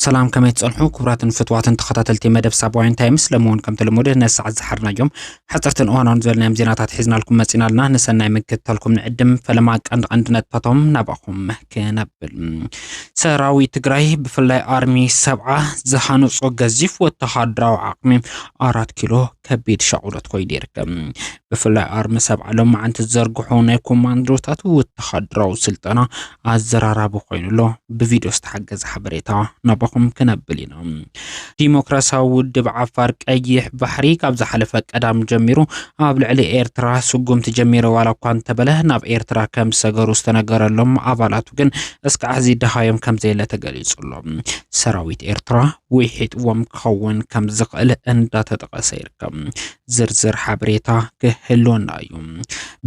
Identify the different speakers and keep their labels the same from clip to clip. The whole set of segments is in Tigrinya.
Speaker 1: ሰላም ከመይ ትጸንሑ ክቡራትን ፍትዋትን ተኸታተልቲ መደብ ሳባውያን ታይምስ ለምውን ከምቲ ልሙድ ነዚ ሰዓት ዝሓርናዮም ሓጸርትን እዋናውን ዝበልናዮም ዜናታት ሒዝናልኩም መጺናልና ንሰናይ ምክትታልኩም ንዕድም ፈለማ ቀንዲ ቀንዲ ነጥብታቶም ናባኹም ከነብል ሰራዊት ትግራይ ብፍላይ ኣርሚ ሰብዓ ዝሃነፆ ገዚፍ ወተሃደራዊ ዓቕሚ ኣራት ኪሎ ከቢድ ሻቑሎት ኮይኑ ይርከብ። ብፍላይ ኣርሚ ሰብዓ ሎማዓንቲ ዝዘርግሖ ናይ ኮማንዶታት ወተሃደራዊ ስልጠና ኣዘራራቢ ኮይኑ ኣሎ። ብቪድዮ ዝተሓገዘ ሓበሬታ ናባኹም ክነብል ኢና። ዲሞክራሲያዊ ውድብ ዓፋር ቀይሕ ባሕሪ ካብ ዝሓለፈ ቀዳም ጀሚሩ ኣብ ልዕሊ ኤርትራ ስጉምቲ ጀሚረ ዋላ እኳ እንተበለ ናብ ኤርትራ ከም ዝሰገሩ ዝተነገረሎም ኣባላቱ ግን እስካዕ ሕዚ ደሃዮም ከም ዘየለ ተገሊጹ ኣሎ። ሰራዊት ኤርትራ ውሒጥዎም ክኸውን ከም ዝኽእል እንዳተጠቐሰ ይርከብ። ዝርዝር ሓበሬታ ክህልወና እዩ።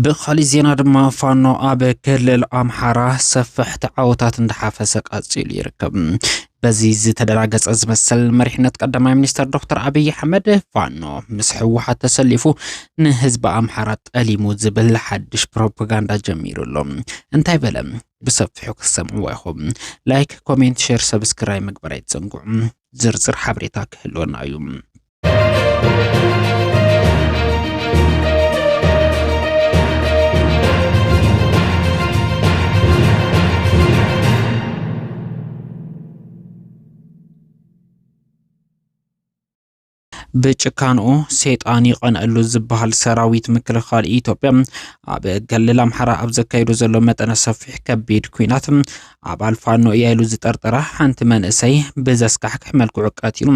Speaker 1: ብኻሊእ ዜና ድማ ፋኖ ኣብ ክልል ኣምሓራ ሰፋሕቲ ዓወታት እንዳሓፈሰ ቀጺሉ ይርከብ። በዚ ዝተደናገጸ ዝመስል መሪሕነት ቀዳማይ ሚኒስተር ዶክተር ኣብይ ኣሕመድ ፋኖ ምስ ህወሓት ተሰሊፉ ንህዝቢ ኣምሓራ ጠሊሙ ዝብል ሓድሽ ፕሮፓጋንዳ ጀሚሩ ኣሎ። እንታይ በለ? ብሰፊሑ ክትሰምዕዎ ኢኹም። ላይክ፣ ኮሜንት፣ ሼር፣ ሰብስክራይብ ምግባር ኣይትዘንግዑ። ዝርዝር ሓበሬታ ክህልወና እዩ። ብጭካንኡ ሴጣን ይቐንአሉ ዝበሃል ሰራዊት ምክልኻል ኢትዮጵያ ኣብ ክልል ኣምሓራ ኣብ ዘካይዶ ዘሎ መጠነ ሰፊሕ ከቢድ ኩናት ኣባል ፋኖ እያ ኢሉ ዝጠርጠራ ሓንቲ መንእሰይ ብዘስካሕክሕ መልክዑ ቀቲሉ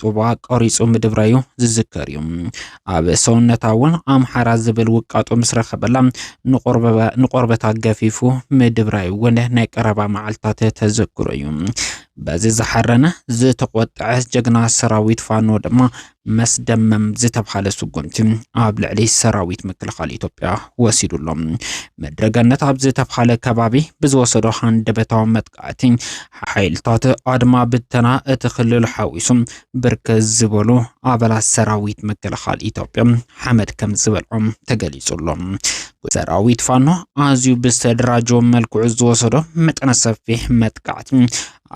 Speaker 1: ጡባ ቆሪጹ ምድብራዩ ዝዝከር እዩ። ኣብ ሰውነታ እውን ኣምሓራ ዝብል ውቃጦ ምስ ረኸበላ ንቆርበታ ገፊፉ ምድብራዩ እውን ናይ ቀረባ መዓልትታት ተዘክሮ እዩ። በዚ ዝሓረነ ዝተቆጠዐ ጀግና ሰራዊት ፋኖ ድማ መስደመም ዝተብሃለ ስጉምቲ ኣብ ልዕሊ ሰራዊት ምክልኻል ኢትዮጵያ ወሲዱ ኣሎ። ምድረገነት ኣብ ዝተብሃለ ከባቢ ብዝወሰዶ ሃንደበታዊ መጥቃዕቲ ሓይልታት ኣድማ ብተና እቲ ክልል ሓዊሱ ብርክት ዝበሉ ኣባላት ሰራዊት ምክልኻል ኢትዮጵያ ሓመድ ከም ዝበልዖም ተገሊጹ ኣሎ። ሰራዊት ፋኖ ኣዝዩ ብዝተደራጀወ መልክዑ ዝወሰዶ መጠነ ሰፊሕ መጥቃዕቲ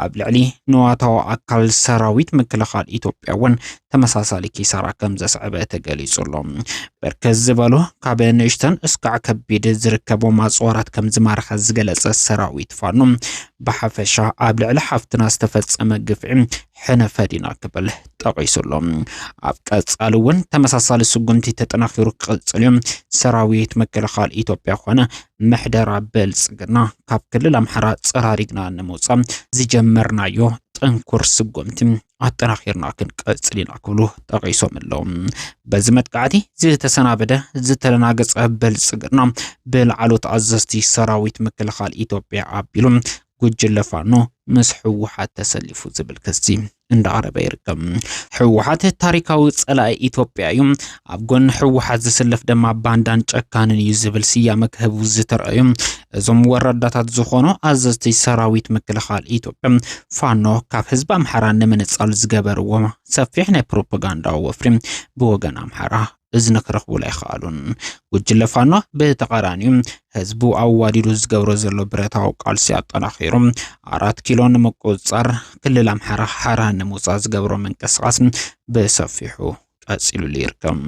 Speaker 1: ኣብ ልዕሊ ንዋታዊ ኣካል ሰራዊት ምክልኻል ኢትዮጵያ እውን ተመሳሳሊ ኪሳራ ከም ዘስዕበ ተገሊጹ ኣሎ። ብርክት ዝበሉ ካብ ንእሽተን እስካዕ ከቢድ ዝርከቦም ኣጽዋራት ከም ዝማረኸ ዝገለጸ ሰራዊት ፋኖ ብሓፈሻ ኣብ ልዕሊ ሓፍትና ዝተፈጸመ ግፍዒ ሕነ ፈዲና ክብል ጠቒሱ ኣሎ። ኣብ ቀጻሊ እውን ተመሳሳሊ ስጉምቲ ተጠናኺሩ ክቕጽል እዩ። ሰራዊት ምክልኻል ኢትዮጵያ ኮነ ምሕደራ ብልጽግና ካብ ክልል ኣምሓራ ጸራሪግና ንምውጻእ ዝጀመርናዮ ጥንኩር ስጉምቲ ኣጠናኺርና ክንቀጽል ኢና ክብሉ ጠቒሶም ኣለዉ። በዚ መጥቃዕቲ ዝተሰናበደ ዝተደናገጸ ብልጽግና ብላዕሎት ኣዘዝቲ ሰራዊት ምክልኻል ኢትዮጵያ ኣቢሉ ጉጅለ ፋኖ ምስ ህወሓት ተሰሊፉ ዝብል ክሲ እንዳዓረበ ይርከብ። ህወሓት ታሪካዊ ጸላኢ ኢትዮጵያ እዩ፣ ኣብ ጎኒ ህወሓት ዝስለፍ ድማ ባንዳን ጨካንን እዩ ዝብል ስያመ ክህቡ ዝተረኣዩ እዞም ወረዳታት ዝኾኑ ኣዘዝቲ ሰራዊት ምክልኻል ኢትዮጵያ ፋኖ ካብ ህዝቢ ኣምሓራ ንምንጻል ዝገበርዎ ሰፊሕ ናይ ፕሮፓጋንዳ ወፍሪ ብወገን ኣምሓራ እዝኒ ክረኽቡሉ ኣይኸኣሉን። ጉጅለ ፋኖ ብተቓራኒኡ ህዝቡ ኣዋዲዱ ዝገብሮ ዘሎ ብረታዊ ቃልሲ ኣጠናኺሩ ኣራት ኪሎ ንምቁፅፃር ክልል ኣምሓራ ሓራ ንምውፃእ ዝገብሮ ምንቅስቓስ ብሰፊሑ ቀፂሉሉ ይርከብ።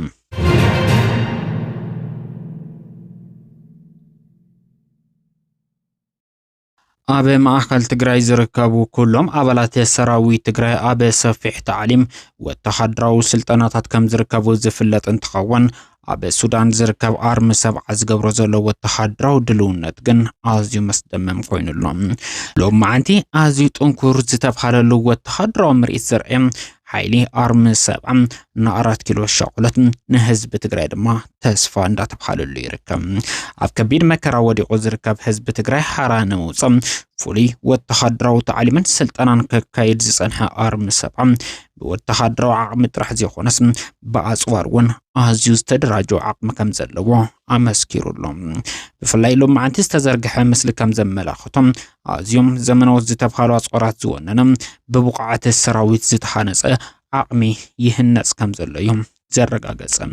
Speaker 1: ኣብ ማእኸል ትግራይ ዝርከቡ ኩሎም ኣባላት ሰራዊት ትግራይ ኣብ ሰፊሕ ታዕሊም ወተሃደራዊ ስልጠናታት ከም ዝርከቡ ዝፍለጥ እንትኸውን ኣብ ሱዳን ዝርከብ ኣርሚ ሰብዓ ዝገብሮ ዘሎ ወተሃደራዊ ድልውነት ግን ኣዝዩ መስደመም ኮይኑ ኣሎ። ሎም መዓንቲ ኣዝዩ ጥንኩር ዝተብሃለሉ ወተሃደራዊ ምርኢት ዘርኤ ሓይሊ ኣርሚ ሰብዓ ንኣራት ኪሎ ሻቁለት ንህዝቢ ትግራይ ድማ ተስፋ እንዳተብሃለሉ ይርከብ። ኣብ ከቢድ መከራ ወዲቑ ዝርከብ ህዝቢ ትግራይ ሓራ ንምውፃእ ፍሉይ ወተሃደራዊ ታዕሊምን ስልጠናን ከካይድ ዝፀንሐ ኣርሚ ሰብዓ ብወተሃደራዊ ዓቕሚ ጥራሕ ዘይኮነስ ብኣፅዋር እውን ኣዝዩ ዝተደራጀ ዓቕሚ ከም ዘለዎ ኣመስኪሩሎም። ብፍላይ ሎማዓንቲ ዝተዘርግሐ ምስሊ ከም ዘመላኽቶም ኣዝዮም ዘመናዎት ዝተብሃሉ ኣጽዋራት ዝወነነ ብብቑዓት ሰራዊት ዝተሃነጸ ዓቕሚ ይህነጽ ከም ዘሎ እዩ ዘረጋገጸን።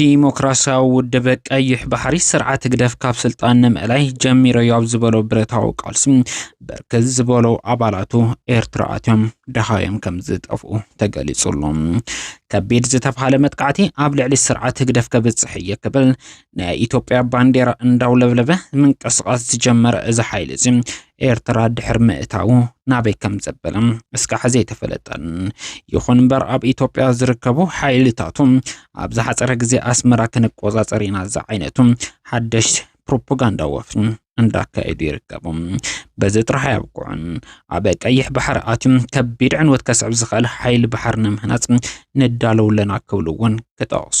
Speaker 1: ዲሞክራሲያዊ ውድብ ቀይሕ ባሕሪ ስርዓት ህግደፍ ካብ ስልጣን ንምእላይ ጀሚረዮ ኣብ ዝበሎ ብረታዊ ቃልሲ ብርክት ዝበሉ ኣባላቱ ኤርትራ ኣትዮም ደሃዮም ከም ዝጠፍኡ ተገሊጹሉ ከቢድ ዝተብሃለ መጥቃዕቲ ኣብ ልዕሊ ስርዓት ህግደፍ ከብጽሕ እየ ክብል ናይ ኢትዮጵያ ባንዴራ እንዳውለብለበ ምንቅስቓስ ዝጀመረ እዚ ሓይሊ እዚ ኤርትራ ድሕሪ ምእታዉ ናበይ ከም ዘበለ እስካዕ ዘይተፈለጠን። ይኹን እምበር ኣብ ኢትዮጵያ ዝርከቡ ሓይልታቱ ኣብ ዝሓፀረ ግዜ ኣስመራ ክንቆፃፀር ኢና ዝዓይነቱ ሓደሽ ፕሮፓጋንዳ ወፍሪ እንዳካየዱ ይርከቡ። በዚ ጥራሕ ኣያብቅዑን። ኣብ ቀይሕ ባሕሪ ኣትዩ ከቢድ ዕንወት ከስዕብ ዝኽእል ሓይሊ ባሕሪ ንምህናፅ ንዳለው ኣለና ክብሉ እውን ክጠቕሱ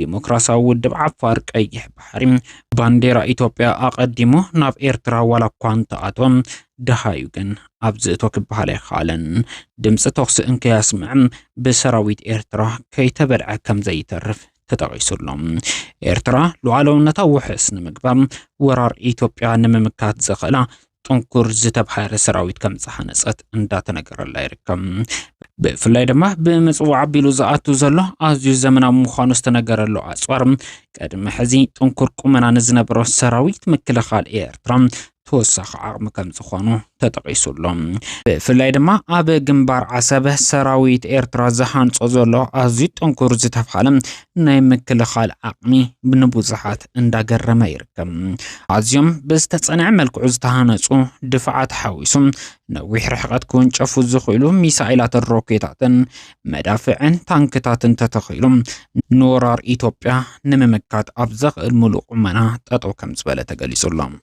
Speaker 1: ዲሞክራሲያዊ ውድብ ዓፋር ቀይሕ ባሕሪ ባንዴራ ኢትዮጵያ ኣቐዲሙ ናብ ኤርትራ ዋላ እኳ እንተኣቶ ደሃዩ ግን ኣብዚ እቶ ክበሃል ኣይከኣለን። ድምፂ ተኹሲ እንከያስምዐ ብሰራዊት ኤርትራ ከይተበልዐ ከም ዘይተርፍ ተጠቒሱ ኣሎ። ኤርትራ ሉዓላውነታ ውሕስ ንምግባር ወራር ኢትዮጵያ ንምምካት ዘኽእላ ጥንኩር ዝተብሃረ ሰራዊት ከም ዝሃነፀት እንዳተነገረላ ይርከብ። ብፍላይ ድማ ብምፅዋዕ ኣቢሉ ዝኣቱ ዘሎ ኣዝዩ ዘመናዊ ምዃኑ ዝተነገረሉ ኣፅዋር ቅድሚ ሕዚ ጥንኩር ቁመና ንዝነበሮ ሰራዊት ምክልኻል ኤርትራ ተወሳኺ ዓቕሚ ከም ዝኾኑ ተጠቒሱ ኣሎ። ብፍላይ ድማ ኣብ ግንባር ዓሰብ ሰራዊት ኤርትራ ዝሃንፆ ዘሎ ኣዝዩ ጥንኩር ዝተብሃለ ናይ ምክልኻል ዓቕሚ ንብዙሓት እንዳገረመ ይርከብ። ኣዝዮም ብዝተጸንዐ መልክዑ ዝተሃነጹ ድፋዓት ሓዊሱ ነዊሕ ርሕቐት ክውንጨፉ ዝኽእሉ ሚሳኤላትን ሮኬታትን፣ መዳፍዕን ታንክታትን ተተኺሉ ንወራር ኢትዮጵያ ንምምካት ኣብ ዘኽእል ምሉእ ቁመና ጠጠው ከምዝበለ ተገሊጹ ኣሎ።